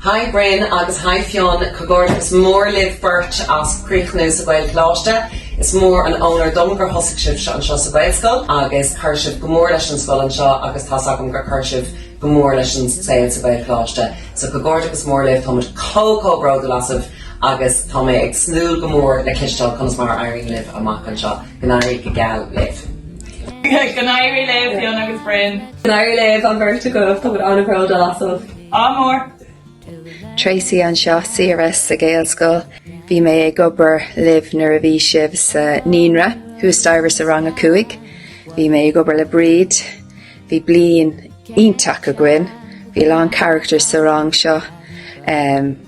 Haigh Bryn agus Haigh Fionn, Comhghairdeachas mór libh beirt as críochnú sa Ghaelcholáiste. Is mór an onóir dom gur thosaigh sibh anseo sa Ghaelscoil agus chuir sibh go mór leis an scoil anseo agus tá's agam gur chuir sibh go mór leis an saol sa Ghaelcholáiste. So comhghairdeachas mór libh, táimid chomh chomh bródúil asaibh agus tá mé ag súil go mór le cloisteáil conas mar a éiríonn libh amach anseo. Go n-éirí go geal libh. Go n-éirí libh Fionn agus Bryn. Go n-éirí libh an bheirt agaibh, táimid an-bhródúil asaibh. A chairde. Tracey anseo, CRS sa Ghaelscoil. Bhí mé ag obair libh nuair a bhí sibh sa Naíonra, thuas staighre sa rang a cúig. Bhí mé ag obair le Bríd. Bhí bliain iontach againn. Bhí a lán charachtair sa rang seo.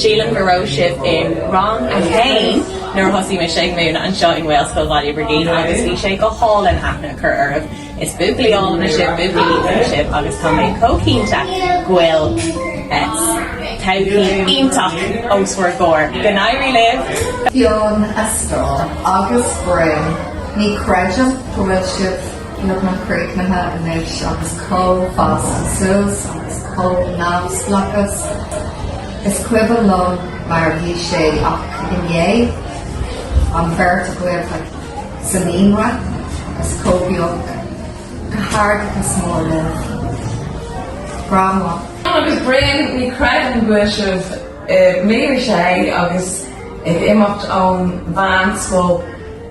Sílim go raibh sibh i rang a haon nuair a thosaigh mise ag múineadh anseo i nGaelscoil Bhaile Brigín agus bhí sé go hálainn aithne a chur oraibh. Is buachaillí áille sibh, buachaillí iontacha sibh agus tá mé chomh cinnte go bhfuil todhchaí iontach os bhur gcomhair. Go n-éirí libh! Fionn, a stór agus Bryn, ní chreidim go bhfuil sibh Beagnach críochnaithe anois agus chomh fásta suas agus chomh neamhspleáchas. Is cuimhin liom mar a bhí sé ach inné, an bheirt agaibh sa naíonra agus chomh beag. Comhghairdeachas mór libh. Grandma. Agus Bryn ní chreidim go bhfuil sibh i mbliain a sé agus ag imeacht ón mheánscoil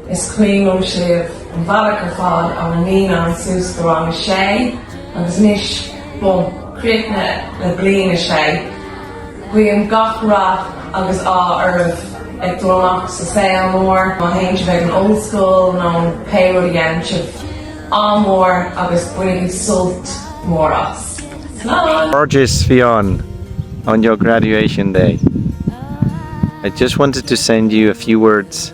Is cuimhin liom sibh an bhealach ar fad ó na naíonáin suas go rang a sé agus anois bun críochnaithe le bliain a sé. Guím gach rath agus ádh oraibh ag dul amach sa saol mór, má théann sibh ag an ollscoil nó pé rud a dhéanann sibh. Ádh mór agus bainigí sult mór as. Slán! Gorgeous Fionn on your graduation day. I just wanted to send you a few words.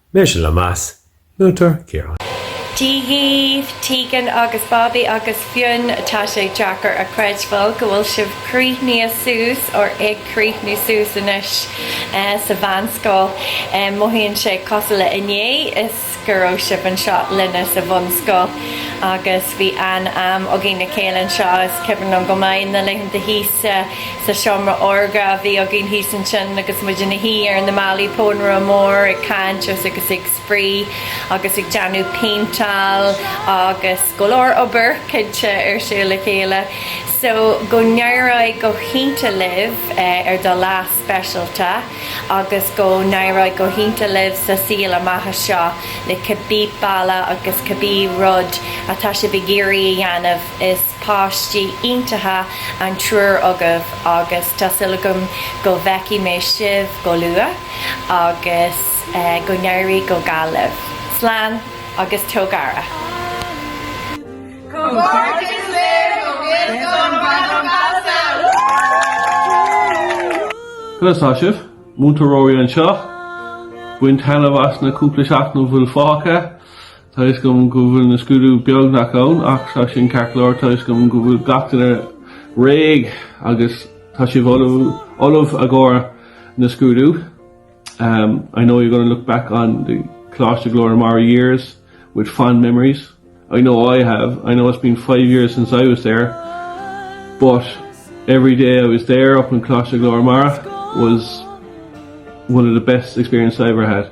Mise le meas, múinteoir Ciarán. Dia daoibh, Tegan agus Bobby agus Fionn, tá sé deacair a chreidbheáil go bhfuil sibh críochnaithe suas, or ag críochnú suas anois, sa mheánscoil. Mothaíonn sé cosúil le inné is go raibh sibh anseo linne sa bhunscoil, agus bhí an-am againn le chéile anseo, is cuimhin liom go maith, na laethanta thíos sa sa seomra órga a bhí againn thíos ansin agus muid ina shuí ar na málaí pónaire mór ag caint agus ag spraoi agus ag déanamh péinteáil agus go leor obair cinnte ar siúl le chéile so go n-éireoidh go hiontach libh ar do lá speisialta agus go n-éireoidh go hiontach libh sa saol amach anseo le cibé bealach agus cibé rud atá sibh ag iarraidh a dhéanamh is páistí iontacha iad an triúr agaibh agus tá súil agam go bhfeicfidh mé sibh go luath agus go n-éirí go geal libh. Slán agus tóg aire. Comhghairdeas libh ó Ghaelscoil Bhreandáin Balsail! Conas tá sibh? Múinteoir Ruairí anseo. Bain taitneamh as na cúpla seachtain a bhfuil fágtha. Tá a fhios agam go bhfuil na scrúduithe beagnach ann ach tá sin ceart go leor. Tá a fhios agam go bhfuil gach duine réidh agus tá sibh ullamh i gcomhair na scrúdú. I know you're going to look back on the Coláiste Ghlór na Mara years with fond memories. I know I have. I know it's been five years since I was there but every day I was there up in Coláiste Ghlór na Mara was one of the best experiences I ever had.